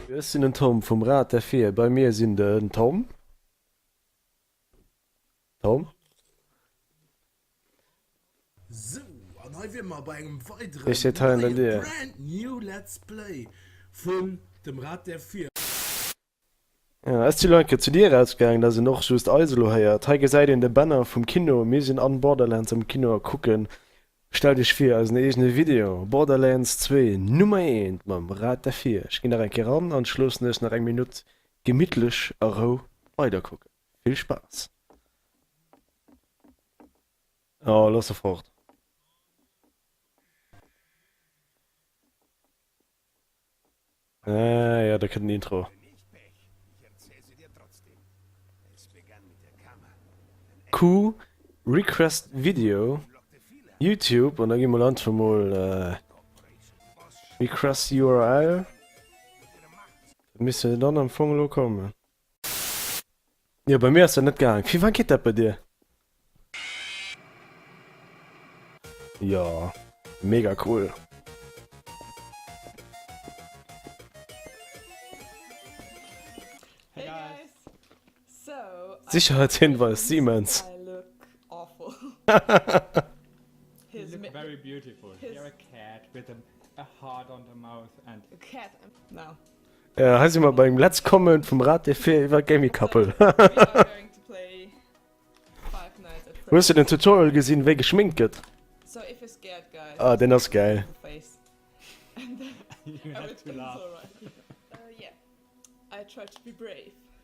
Ech sinn den Tom vum Rad der Vir. Bei mir sinn den Tom. Tom. Sou, an hei wier mer bei engem weideren Ech seet hei ënnert neien dir. Brand New Let's Play vun dem Rad der Vir. Esti Lein ke zu dir ausgaangen dass een och just eis elo héiert. Hei gesäit een de Banner vum Kino. Mir sinn an Borderlands am Kino a kucken, stellt iech vir, eisen eegene Video Borderlands zwee Nummer eent mam Rad derfir. Ech ginn nach eng Kéier ran an schloossen iech nach eng Minutt gemittlech a Rou weider kucken. Vill Spaass! Oh loss se fort. Ah ja, da kënnt den Intro. Q request video YouTube an da gi mol einfach mol request url. Misst jo dann am Fong elo kommen. Jo bei mir ass dat net gaang. Fir wann geet dat bei dir? Jo mega cool. Sicherheitshinweis Siemens. Hei si mer beim Let's Comment vum Rate fir iwwer Gaming Couple. Hues de den Tutorial gesinn, wéi geschminkt gëtt? Ah, deen ass gäil.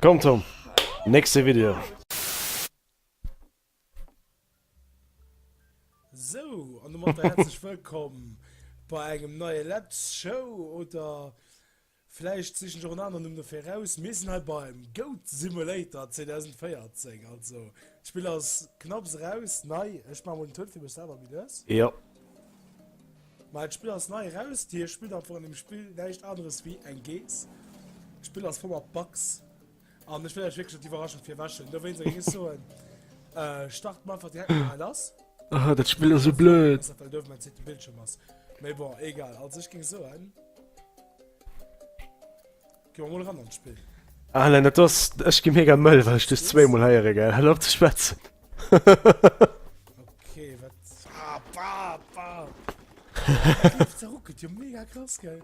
Komm Tom, nächste Video. Sou, an domat herzlech wëllkomm bei engem neie Let's Show oder Vläicht sichen ech och en aneren Numm dofir eraus. Mir sinn hei beim Goat Simulator 2014. Also d'Spill ass knapps eraus, nei. Ech maache mol den Toun fir mech selwer méi lues. Jo. Mä d'Spill ass nei eraus. Dir spillt einfach an deem Spill näischt aneres wéi eng Geess. D'Spill ass voll mat Bugs. An ech wëll lech wierklech net d'Iwwerraschung virwäschen, dowéinst ech iech soen, Start mer einfach direkt mol lass. Ah, dat Spill ass sou blöd. Well do mäin zweete Bildschirm ass. Mee bon, egal. Also ech géing soen, gi mer mol eran an d'Spill. Alain, dat ass, ech gi mega mëll, well ech dech zweemol héiere, gell? Hëll op ze schwätzen. Okay, wat? Ah, bah, bah. D'Luucht zerruckelt jo mega krass, gell?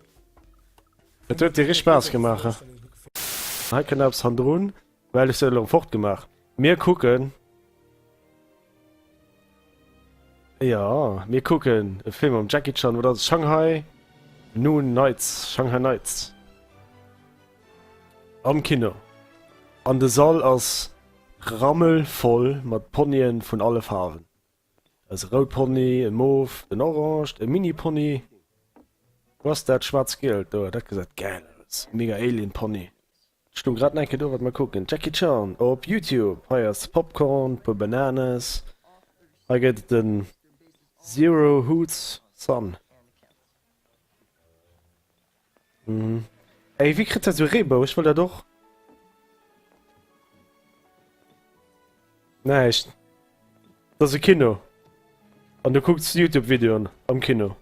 Et huet dir richt Spaass gemaach, he? Hei kënnt eppes hannendrun, well ech se elo fort gemaach. Mir kucken, jo, mir kucken e Film mam Jackie Chan. Wat ass et? Shanghai Noon Nights, Shanghai Nights am Kino. An de Sall ass rammelvoll mat Ponyen vun alle Faarwen. Ass e roud Pony, e mof, en oranged, e mini Pony? Wou ass dat schwarz gielt do? Dat gesäit gäil aus, e mega Alien Pony. Et stung grad enke do, wat mer kucken, Jackie Chan op Youtube. Hei ass Popcorn, puer Bananes, hei gëtt et en Zero Hoots Son. Mhm. Ey, wie kritt dat so Reebou? Ech wollt dat och. Näischt. Dat ass e Kino. An du kucks YouTube-Videoen am Kino.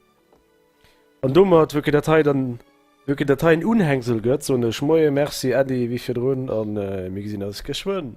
An domat, wou ke dat hei dann, wou ke dat hei en Unhängsel gëtt, soen ech Moie, Merci Äddi, wéi virdrun, an mir gesinn eis geschwënn.